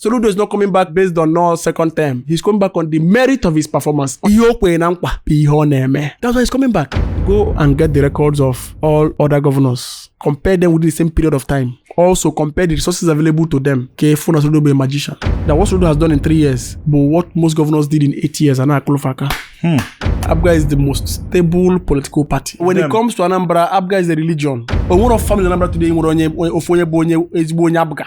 Soludo is not coming back based on no second term. He's coming back on the merit of his performance. Ihe o kwere na nkwa bụ ihe ọ na-eme. That's why he's coming back. Go and get the records of all other governors. Compare them within the same period of time. Also compare the resources available to them. Ka efu na Soludo bụ a magician. That what Soludo has done in three years but what most governors did in eight years ana akụlụfa aka. Hmm. Abga is the most stable political party. When Damn. it comes to Anambra, Abga is a religion. Onwere of family Anambra today nwere onye ofu onye bụ onye ezigbo onye Abga.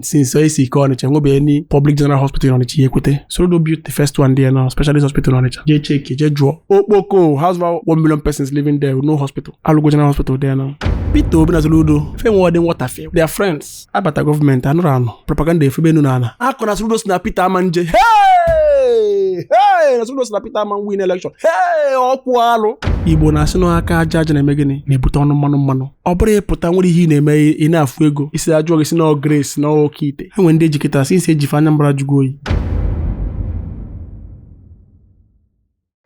since e si kee ọnịcha nwebeghị any public general hospital ọnịcha ya ekwete soludo built the first one there now specialist hospital ọnịcha jee cheki jee jụọ okpoko has about one million persons living there with no hospital alụgo general hospital there now peter obi na soludo fe nwe ọdị nwọtafe they are friends abata gọọmenti anụrụ anụ propaganda efebe enu na ala akọ na soludo si na peter ama nje hey! hey! na soludo si na peter ama win election hey! okwu alụ igbo na-asị na aka aja aja na-eme gịnị na-ebute ọnụ mmanụ mmanụ ọ bụrụ ị pụta nwere ihe ị na-eme ị na-afụ ego isi ajụọ gị si na grace na okeite ha nwere ndị e ji kịta since e ji fa Anambra jụgo oyi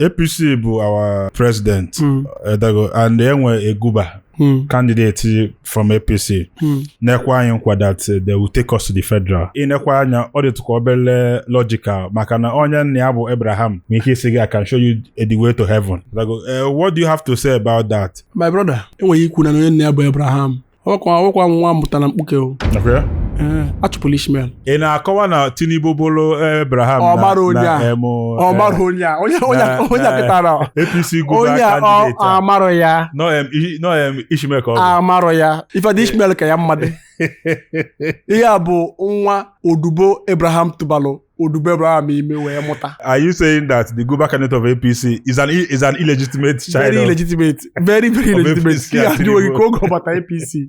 APC bụ our president hmm. edago and e nwee guba Hmm. candidate from APC hmm. na-ekwe anyị nkwa that eh, they will take us to the federal ị nekwa anya ọ dịtụkwa obere logical maka na onye nna ya bụ Abraham nwere ike ịsị gị I can show you the way to heaven eh, what do you have to say about that my brother enweghị ikwu na onye nna ya bụ Abraham ọkwa ọkwa nwa a mụta na mkpuke o Nakwa ya? Ee, achụpụla Ishmael ị na-akọwa na tinubu bụrụ abraham Ọ mara onye na a. emu ọ mara onye a onye onye a- onye a kịta a ọ. apc onye guba a ọ kandideti a amarọ ya nọ em i- nọ em ishmael ka ọ bụ amarọ ya in fact Ishmael ka ya mma ihe a bụ nwa odibo Abraham tụbalụ odibo Abraham ime wee mụta are you saying that the Guba candidate of APC is an is an illegitimate child very of- illegitimate very very of illegitimate APC ihe and ajụghị Tinubu. ka oge ọ bata APC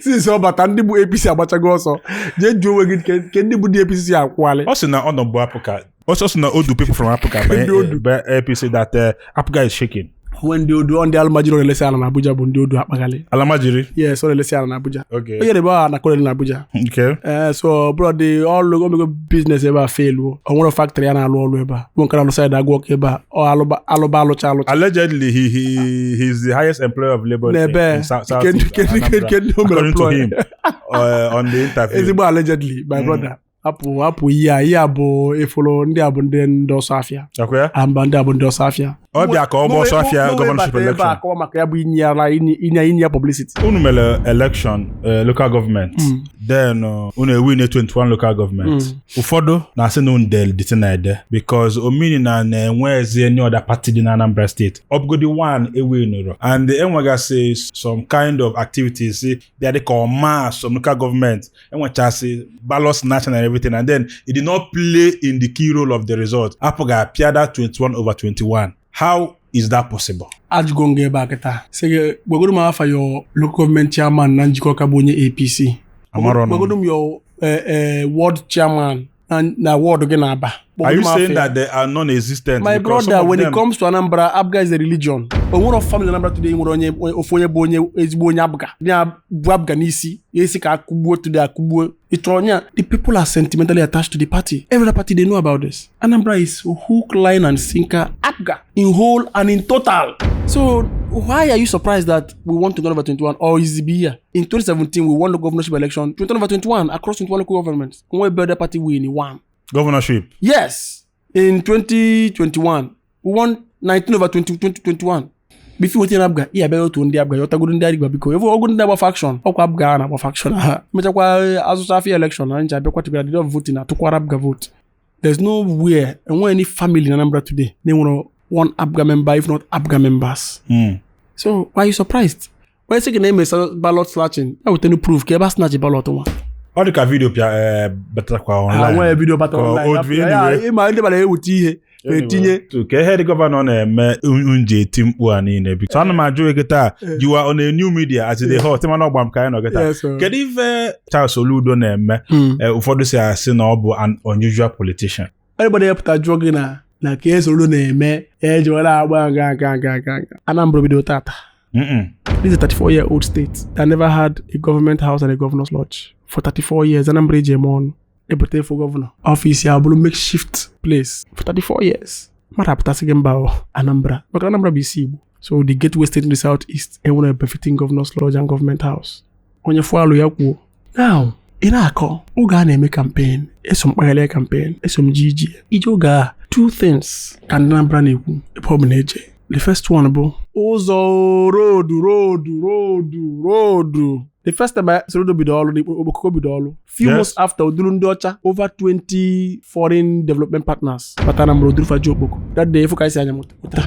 since ọ bata ndị bụ APC agbachago ọsọ jee jụọ onwe gị ke- ke ndị bụ ndị APC si akwụghalị ọ sị na ọ nọbu APGA ọ sị na o du people from APGA Ndị o du. banye APC that uh, APGA is shaking o nwe ndị o du ọ ndị alamajiri ọ na-elesi ala na Abuja bụ ndị o du akpaghalị alamajiri yes ọ na-elesi ala na Abuja okay onye na-ebe aha na kolonel na Abuja okay ee so bụrụ dị ọlụ o mego biznes ebe a feluo o nwere faktrị ya na-alụ ọlụ ebe a bụ nke na-alụ saịdị agụ ọka ebe a ọ alụba alụba alụcha alụcha allegedly he he he is the highest employer of labor N'ebe, in South South nke ndị- East nke ndị- Anambra, nke ndị o mere according to employ. him uh, on the interview ezigbo allegedly my brother apụ apụ ihe a ihe a bụ ị fụrụ ndị a bụ ndị ndị ọsọ afịa Ọkwa ya? amba ndị a bụ ndị ọsọ afịa Ọ bịa ka ọ bụ ọsọ afịa gọvanọship election. akọwa maka ya bụ inye ya ara inye inye inye ya publicity unu mere election eh, local government then uh, unu ewin 21 local government ụfọdụ na-asị na unu del dịtị na ede because ọ mean na na enwezi any other party dị na anambra steeti ọ bụgodi one e winirọ and enwegasị some kind of activities bịa dịka ọma some local government enwechasị ballot snatching and everything and then it did not play in the key role of the result APGA apịa that 21 over 21 how is that possible a jụgo m gị ebe a kịta sị gị gwagodu m afa your local government chairman na njikọka bụ onye apc Amarọ nọ. gwagodu m your eh, eh, ward chairman na na ward gị na Aba kpọgodi m afa ya. Are you saying that they are non-existent? because some of them- my brother when it comes to Anambra APGA is a religion o nwere family anambra today nwere onye ofu onye bụ onye ezigbo onye APGA ya bụ APGA n'isi ya a sị ka akụgbuo today akụgbuo ị chọrọ onye a the people are sentimentally attached to the party every other party they know about this anambra is hook line and sinker APGA in whole and in total so why are you surprised that we won 2021 or is it be here in 2017 we won the governorship election 2021 across 21 local governments nwee ebe other party win one governorship yes in 2021 we won 19 over 20, 2021 bifi wetin na APGA iya bịara otu ndị APGA ya ọtagoro ndị arigba biko efu ọgụ ndị agba faction ọkwa APGA a na-agba faction ha mechakwa azụcha afia election na ncha bịakwa tụgara did vote na atụkwara APGA vote there's nowhere enwe any family na anambra today na-enwerọ one APGA member if not APGA members so why are you surprised onye sị gị na emesa ballot snatching ya wetanụ proof ka ebe a snatch ballot nwa ọ dị ka video pịa eh, batakwa ha nwee online video bata Ka online, otu ya- ya- anyway. ịma ndị mara ewute ihe etinye Otu ka ihe the governor na-eme m ji eti mkpu a niile bụ so ana m ajụ gị taa you are on a new media as the hot man ọgba m ka anyị nọ gị taa Yes, sir. kedu ife Charles Soludo na-eme Mm. Eh, ụfọdụ si asị na ọ bụ an unusual politician everybody ya-apụta jụọ gị na na ka Soludo na-eme ya ejewela agba aga Anambra bido tata this is a 34 year old state that never had a government house and a governor's lodge for 34 years Anambra eji eme ọnụ ebute for governor office ya bụrụ makeshift place for 34 years mmadụ apụta sị gị mba Anambra maka Anambra bụ isi Igbo so the gateway state in the south east enwerọ befitting governor's lodge and government house onye fụalụ ya kwuo now ị na-akọ oge a na-eme campaign eso m kpagharịa campaign eso m ji iji ije oge a two things ka ndị Anambra na-ekwu ebe ọbụna e jee the first one bụ ụzọ road road road road the first time I Soludo bido ọrụ n'ikpo okpoko bido ọrụ Yes. few months after o duru ndị ọcha over 20 foreign development partners bata Anambra duru fa jee Okpoko that day ị fụ ka anyị si anya mụta ụta.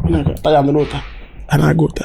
Ị na-aga, ụta ya nụrụ ụta a na-aga ụta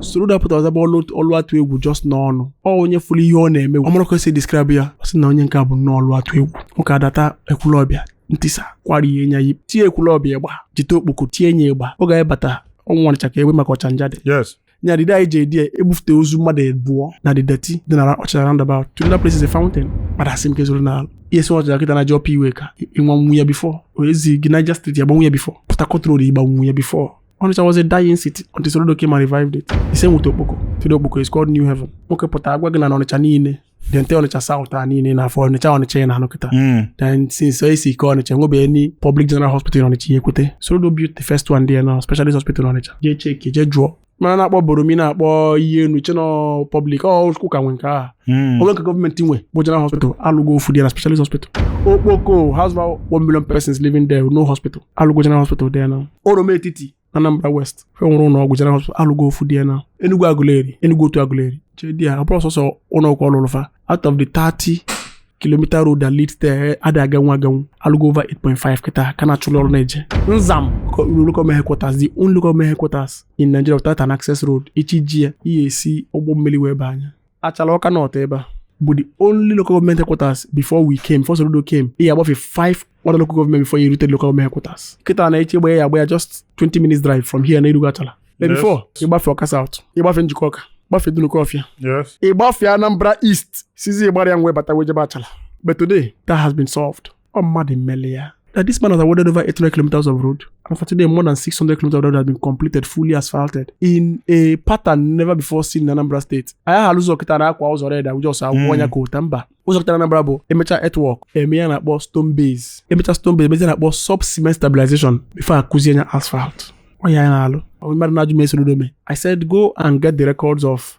Soludo pụta ọ zaba ọlụ atụ egwu just n'ọnụ ọ onye fụrụ ihe ọ na-eme ọ marọ ka esi describe ya ọ sị na onye nke a bụ nnọọ ọlụ atụ egwu nwoke adata Ekwulọbịa ntisa kwara ihe nya yi tie Ekwulọbịa ịgba jete Okpoko tie nya ịgba ọ ga bata ọnwụ ọnịcha ka egbe maka Ọchanja dị nya dịdị anyị ji edi ya ebufute ozu mmadụ abụọ na the dirty dị na Ọchanja roundabout today that place is a fountain kpara asị m ka ezoro n'ala i si Ọchanja kịta na-eje Upper Iweka ị nyanwu ya before o ezi gị Niger Street ị gbanwu ya before Port Harcourt road ị gbanwu ya before Onitsha was a dying city until Soludo came and revived it. The same with Okpoko. Today Okpoko is called New Heaven. Nwoke pụta agwa gị na Onitsha niile the entire Onitsha South a niile na afọ Onitsha Onitsha na-anọ kịta hmm. then since anyị si ike Onitsha enwebe any public general hospital Onitsha ya ekwute Soludo built the first one there now specialist hospital Onitsha jee cheki jee jụọ mana na-akpọ Borromeo na-akpọ Iyienu chee na ọ public ọ ụka nwe nke ahụ hmm. o nwe nke gọọmenti nwe bụ general hospital alụgo ofu there now specialist hospital Okpoko has about one million persons living there no hospital alụgo general hospital there now Oroma Etiti Anambra West fa enwerọ ụlọ ọgwụ general alụgo ofu there now Enugu Aguleri Enugu Otu Aguleri jee there ọ bụrọ sọsọ ụlọ ọgwụ ọ lụlụ fa out of the 30 kilometer road that leads there adị aganwu aganwu alụgo over 8.5 kịta ka na-achụlụ ọrụ na-eje Nzam local headquarters the only local headquarters in Nigeria without an access road ị chọọ ije ya ị ya-esi ụgbọ mmili wee baa nya Achala Ọka North ebe a bụ the only local government headquarters before we came before Soludo came ị ya-agbafe five other local government before i rute local government headquarters kịta na eche gbanye ya agba ya just 20 minutes drive from here na i rugo Achala But Yes. before ị gbafe Ọka South ị gbafe Njikoka gbafe Dunukofia Yes. ị gbafe Anambra East sizi Igbariam wee bata wee jebe Achala but today that has been solved ọ mmadụ meli ya that this man has awarded over 800 kilometers of road. And for today, more than 600 kilometers of road has been completed, fully asphalted, in a pattern never before seen in Anambra State. I have ụzọ kịta na akwa ụzọ red ụjọ ọsọ awụkwa nya coal tar mba ụzọ kịta na Anambra bụ emecha earthwork eme ihe a na-akpọ stone base emecha stone base emezie ihe a na-akpọ sub cement stabilization before akụzie nya asphalt ọ ihe anyị na-alụ mmadụ na-ajụ m ihe Soludo me I said go and get the records of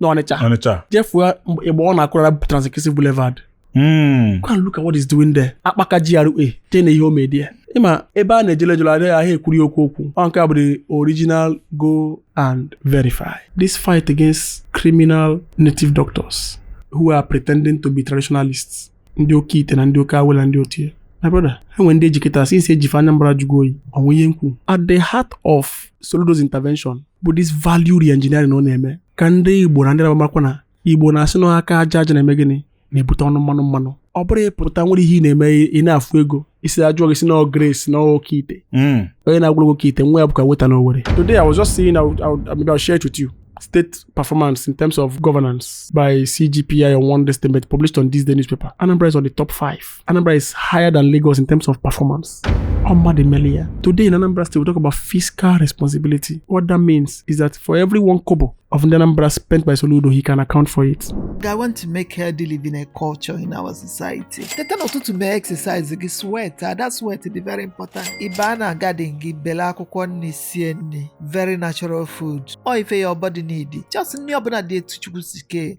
n'Ọnịcha Ọnịcha jee fụ igba ọ na-akụ na Trans-Nkisi Boulevard hmm. go and look at what he's doing there Akpaka GRA jee nee ihe o me there ị ma ebe a na-ejele ejele adịghị ahịa ekwuri okwu okwu ọ nke a bụ the original go and verify this fight against criminal native doctors who are pretending to be traditionalists ndị oke ite na ndị oke awele ndị otu ya my brother e nwere ndị e jikọtara since e ji fa Anambra ajụgo oyi ọnwa ihe m kwu at the heart of Soludo's intervention bụ this value reengineering ọ na-eme ka ndị Igbo na ndị Anambra makwa na Igbo na-asị na aka aja aja na-eme gịnị na-ebute ọnụ mmanụ mmanụ ọ bụrụ ị pụta nwere ihe ị na-eme ị na-afụ ego isi ajụọ gị si na grace na oke ite hmm. onye na-agwụrụ oke ite nwa ya bụka weta na owere today i was just saying I would, I would, maybe I'll share it with you state performance in terms of governance by CGPI on one estimate published on this day newspaper. Anambra is on the top five. Anambra is higher than Lagos in terms of performance. Omba de Melia. Today in Anambra State, we talk about fiscal responsibility. What that means is that for every one kobo of Ndị Anambra spent by Soludo, he can account for it. I want to make healthy living a culture in our society. I teta n'ụtụtụ mee exercise gị sweat that sweat dị very important. Ị baa na garden gị bela akwụkwọ nni sie nni very natural food. Ọ ife your body need. Just nni ọbụna dị etu Chukwu si kee.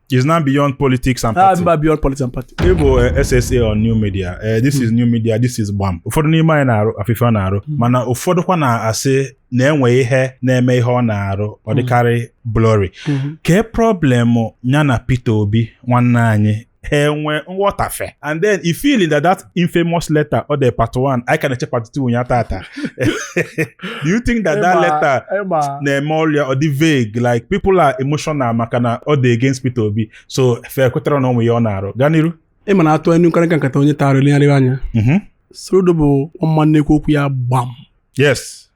It's now beyond politics and ah, party. Ah, beyond politics and party. Ị bụ eh, SSA on new media. Uh, this hmm. is new media. This is gbam. Ụfọdụ n'ime anyị na-afụ ife fa na-arụ hmm. mana ụfọdụkwa na-asị na e nwe ihe na-eme ihe ọ na-arụ ọ hmm. dịkarị blurry. Kee problem ya na Peter Obi nwanne anyị ha enwe nghọtafe and then i feeling that that infamous letter o de part 1 anyị ka na-eche part 2 ụnyaa taata do you think that that letter na-eme ọrịa ọ dị vague like people are emotional maka na ọ dị against Peter Obi so fe kwetara na onwe ya ọ na-arụ gaa n'iru ị ma na atụ inu nkịrịka nkata onye tara elegharịwa anya Mhm. Soludo bụ a man na-ekwu okwu ya gbam yes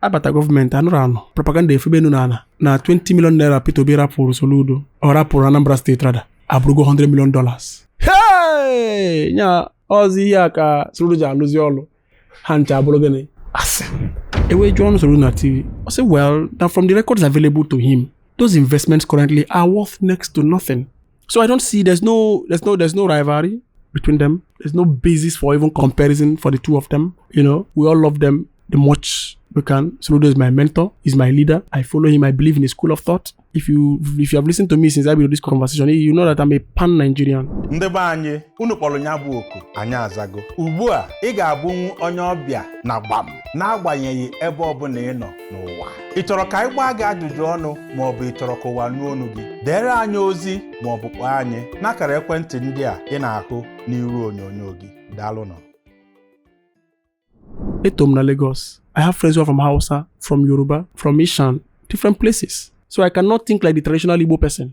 abata gọọmenti anụrụ anụ propaganda efebe enu na ala na 20 million naira Peter Obi rapụrụ Soludo ọ rapụrụ Anambra State rather abụrụgo 100 million dollars hey nya ọzọ ihe a ka Soludo ji alụzi ọlụ ha ncha abụrụ gịnị asị e wee jụọnụ Soludo na TV ọ sị well na from the records available to him those investments currently are worth next to nothing So I don't see there's no there's no there's no rivalry between them. There's no basis for even comparison for the two of them. You know, we all love them the much we can. Soludo is my mentor, he's my leader. I follow him, I believe in his school of thought. If you if you have listened to me since I began this conversation, you know that I'm a pan Nigerian. ndị be anyị unu kpọrọ nya bụ oku anyị azago ugbu a ị ga-abụnwu onye ọbịa na gbam n'agbanyeghị ebe ọbụla ị nọ n'ụwa ị chọrọ ka anyị gbaa gị ajụjụ ọnụ ma ọ bụ ị chọrọ ka ụwa nụ onu gị deere anyị ozi ma ọ bụ kpọọ anyị n'akara ekwentị ndị a ị na-ahụ n'iru onyonyo gị daalụnụ eto m na Lagos I have friends who are from Hausa from Yoruba from Ishan different places so I cannot think like the traditional Igbo person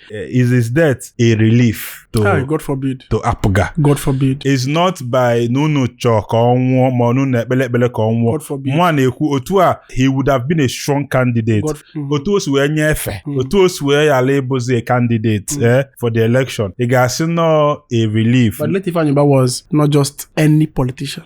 Eh, is his death a relief to Hi, God forbid. to APGA God forbid. it's not by na unu chọọ ka ọ nwụọ ma unu na-ekpele ekpele ka ọ nwụọ God forbid. nwa na-ekwu otu a he would have been a strong candidate God, mm, otu o si wee nye efe Mm. otu o si wee ghara ịbụzi a candidate Mm. eh, for the election ị ga-asị na ọ a relief but Late Ifeanyi Ubah was not just any politician.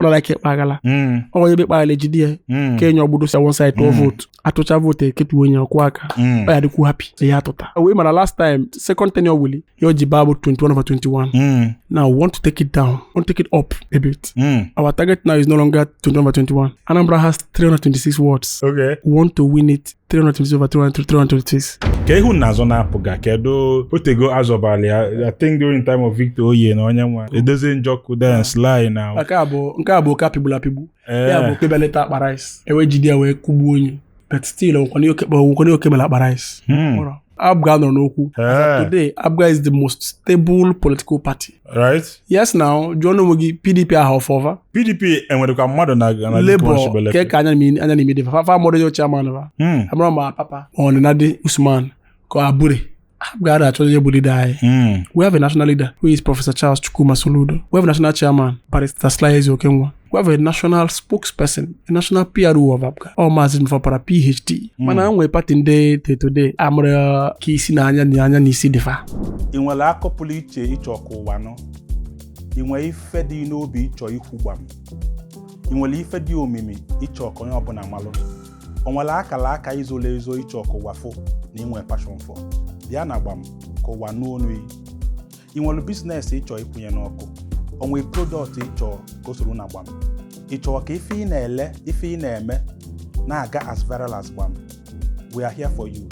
ọ nara ike kpaghara mm, ọ onye be kpaghara ejide ya mm, kee nya agbụ dose one side tụọ Mm. vootu atụcha vootu eketu onye ọkụ aka mm, ọ ya dịkwu happy na ya atụta o wee mana last time second tenure Willie ihe o ji baa bụ 21 over 21 mm, now we want to take it down we want to take it up a bit mm. our target now is no longer 21 over 21 Anambra has 326 wards Okay. we want to win it 326 over 326. kee ihe unu na-azọ na APGA kedu o teego azọbalị ya i think during time of Victor Oye na onye nwa Edozie Njoku then Sly now Nke a bụ nke a bụ oke a pịgbulu apịgbu. Ya bụ ee oke beleta akpa rice. E wee jide ya wee kụgbuo nya. But still, ọ bụkwanụ oke bela akpa rice. Hmm. Ọrụ. APGA anọrọ n'okwu eh. today APGA is the most stable political party right yes now jụọnụ onwe gị PDP ahụ ọfọva PDP e nwerekwa mmadụ na Labour ke ka anya na ime dị fa fa amarọ onye chairman va hmm. amarọ ma Apapa ma ọ Nenadi Usman ka Abure APGA ada achọ onye bụ leader anyị hmm. we have a national leader who is Professor Charles Chukwuma Soludo we have a national chairman Barrister Sly Ezeokenwa we have a national spokesperson a national PRO of APGA ọ maazị Ejimofor Opara PhD hmm. mana nwee pati ndị till today amarọ ka isi na anya na anya na isi dị fa ị nwere akọ pụrụ iche ị chọ ka ụwa nụ ị nwere ife dị n'obi ị chọ ikwu gbam ị nwere ife dị omimi ị chọ ka onye ọbụla malụ o nwere akara aka i zolu ezo ị chọ ka ụwa fụ na i nwe passion for bịa na gbam ka ụwa nụ onu yi ị nwere business ị chọ ikwunye n'ọkụ o nwe product ị chọ ka o soro na gbam ị chọrọ ka ife ị na-ele ife ị na-eme na-aga as viral as gbam we are here for you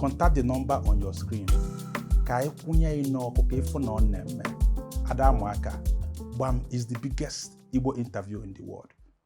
contact the number on your screen ka anyị kwunye ị n'ọkụ ka ị fụ na ọ na-eme ada amụ aka gbam is the biggest igbo interview in the world